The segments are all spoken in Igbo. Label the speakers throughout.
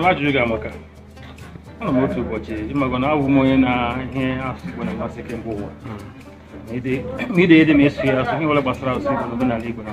Speaker 1: ajụjụ gị amaka anọ m otu ụbọchị ị mago na abụ m onye na ihe asụsụ Igbo na-amasị kemgbe ụwa ma ide ede ma ịsụ ya asụ ihe ọbụla gbasara asụsụ Igbo na omenala Igbo na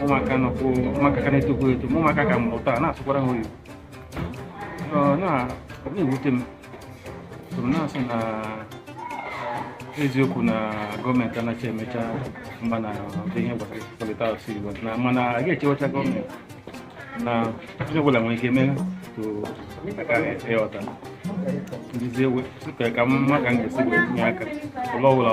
Speaker 1: ụmụaka nọkwu ụmụaka ka na-etokwu eto ma ụmụaka ka a mụrụ taa na-asụkwara ha oyibo Ọ na- ọ na-ewute m so m na-asị na eziokwu na gọọmenti anaghị emecha mba na ụdị ihe gbasara ịkwalite asụsụ Igbo na mana a ga-echewacha gọọmenti na onye ọbụla nwere ike metụ aka ịghọta nduzi ewe ka ka mma ka m ga-esi wee tinye aka ụlọ ọbụla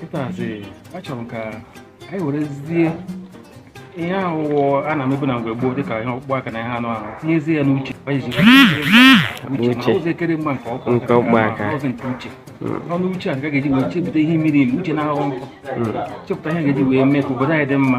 Speaker 1: kịtazi achọrọ m ka anyị werezie ihe ahụ a na-emebu na mgbe gboo dịka ihe ọkpụkpụ aka na ihe anụ ahụ tinyezie ya n'uche ụzọ ekere mgba nke ọkpụ nke ọkpụkpụ aka ọzọ nke uche n'ọnụ uche a ga-eji wee chepụta ihe miri emi uche na-aghọ nkọ chepụta ihe a ga-eji wee mee ka obodo anyị dị mma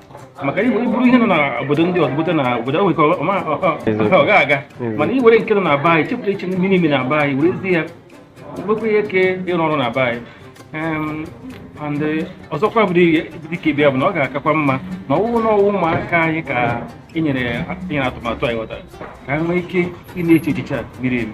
Speaker 1: maka i buru ihe nọ na obodo ndị ọzọ bute na obodo ahụ nke ọ ga aga mana i were nke nọ na be anyị chepụta ihe miri emi na be anyị werezi ya nwekwa ike ịrụ ọrụ na be anyị and eh, ọzọkwa bụ dịka ịbịa bụ na ọ ga-akakwa mma na ọwụ na ọwụ ụmụaka anyị ka enyere atụmatụ anyị ghọtara ka ha nwee ike ị na-eche echiche a miri emi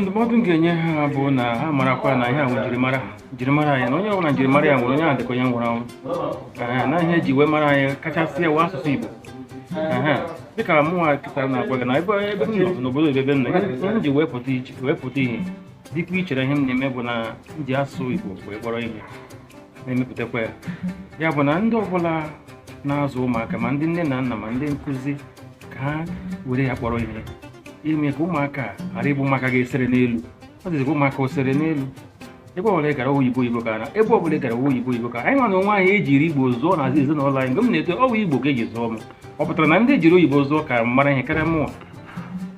Speaker 1: ndụmọdụ m ga-enye ha bụ na ha marakwa na ihe a wụ njirimara njirimara anyị na onye ọbụla njirimara ya nwụrụ onye ahụ dịka onye nwụrụ anwụ Ee, na ihe eji wee mara anyị kachasị wụ asụsụ Igbo Ehe. dịka mụnwa kịta na-agwa gị na ebe ebe m nọ n'obodo ebe ebe m nọ ihe ihe m ji wee pụta iche wee pụta ihe dịkwa iche n'ihe m na-eme bụ na m ji asụsụ Igbo wee kpọrọ ihe na-emepụtakwa ya ya bụ na ndị ọbụla na-azụ ụmụaka ma ndị nne na nna ma ndị nkụzi ka ha were ya kpọrọ ihe ime ka ụmụaka ghara ịbụ ụmụaka ga-esere n'elu ọ dịzikwa ụmụaka osere n'elu ebe ọbụla gara oyibo oyibo ka na ebe ọbụla gara oyibo oyibo ka anyị nwa na onwe anyị ejiri igbo zụọ na ezinụlọ anyị mgbe m na-eto ọwụ igbo ka eji zụọ m ọ pụtara na ndị ejiri oyibo zụọ ka mara ihe karịa mụnwa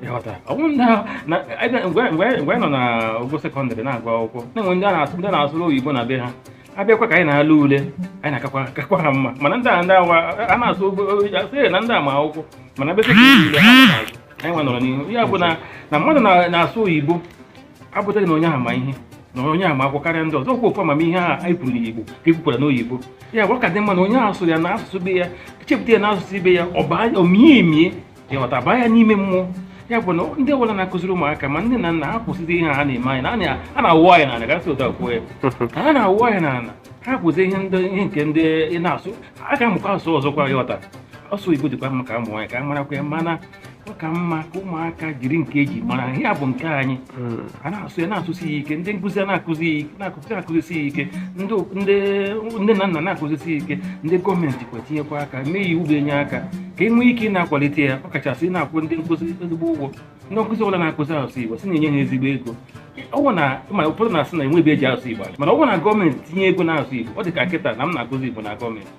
Speaker 1: ịghọta ọ bụrụ na na- ebe- mgbe mgbe anyị- mgbe anyị nọ na ogo sekọndịrị na-agụ akwụkwọ na-enwe ndị a na-asụ ndị na-asụrụ oyibo na be ha abịakwa ka anyị na-ele ule anyị na-akakwa kakwa ha mma mana ndị a ndị awa a na-asụ oyibo a sị na ndị a ma akwụkwọ mana ebe sekọndịrị ule ha ma n'azụ anyị nwa nọrọ n'ihu ya bụ na na mmadụ na- na-asụ oyibo abụtaghị na onye ahụ ma ihe na onye ahụ ma akwụkwọ karịa ndị ọzọ okwu ofu amamihe ahụ anyị kwuru n'Igbo ka e kwukwara n'oyibo ya bụ ọ ka dị mma na onye ahụ sụrụ ya na asụsụ be ya chepụta ya na asụsụ be ya ọ baa- ọ mie emie ịghọta baa ya n'ime mmụọ ya bụ na ndị ọbụla na-akụziri ụmụaka ma nne na nna ha kwụsịzi ihe ha na-eme anyị na a na- a na-awụ anyị n'ala gasị ụta kwuo ya ha na-awụ anyị n'ala ha kwụsị ihe ndị ihe nke ndị ị na-asụ a ga-amụkwa asụsụ ọzọkwa ịghọta asụ oyibo dịkwa mma ka a mụọ ya ka a marakwa ya mana ọ ka mma ka ụmụaka jiri nke eji mara ihe a bụ nke anyị hmm. a na-asụ ya na-asụsi ya ike ndị nkụzi na-akụzi na-akụzi akụzisi ya ike ndị nne na nna na-akụzisi ya ike ndị gọọmenti kwa tinyekwa aka mee iwu ga-enye aka ka e nwee ike ị na-akwalite ya ọ kachasị ị na-akwụ ndị nkụzi ezigbo ụgwọ ndị nkụzi ọbụla na-akụzi asụsụ Igbo si na-enye ha ezigbo ego ọ bụ na ma ụfọdụ na-asị na enweghị ebe eji asụ Igbo mana ọ bụrụ na gọọmenti tinye ego na asụ Igbo ọ dị ka kịta na m na-akụzi Igbo na gọọmenti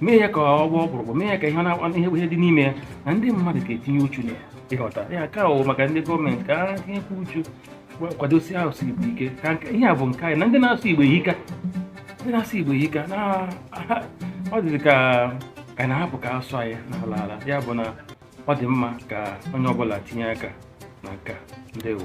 Speaker 1: mee ya ka ọ gbaa ọkpụrụkpụ mee ya ka ihe na-akpa ihe ihe dị n'ime ya na ndị mmadụ ga-etinye uchu na ya ịghọta ya ka ọ maka ndị gọọmenti ka ha tinyekwa uchu gwa- kwadosi asụsụ igbo ike ka nke- ihe a bụ nke anyị na ndị na-asụ igbo ehika ndị na-asụ igbo ehika na ha- ọ dịzị ka ka na-ahapụ ka asụ anyị na-ala ala ya bụ na ọ dị mma ka onye ọbụla tinye aka na nke a. ndewo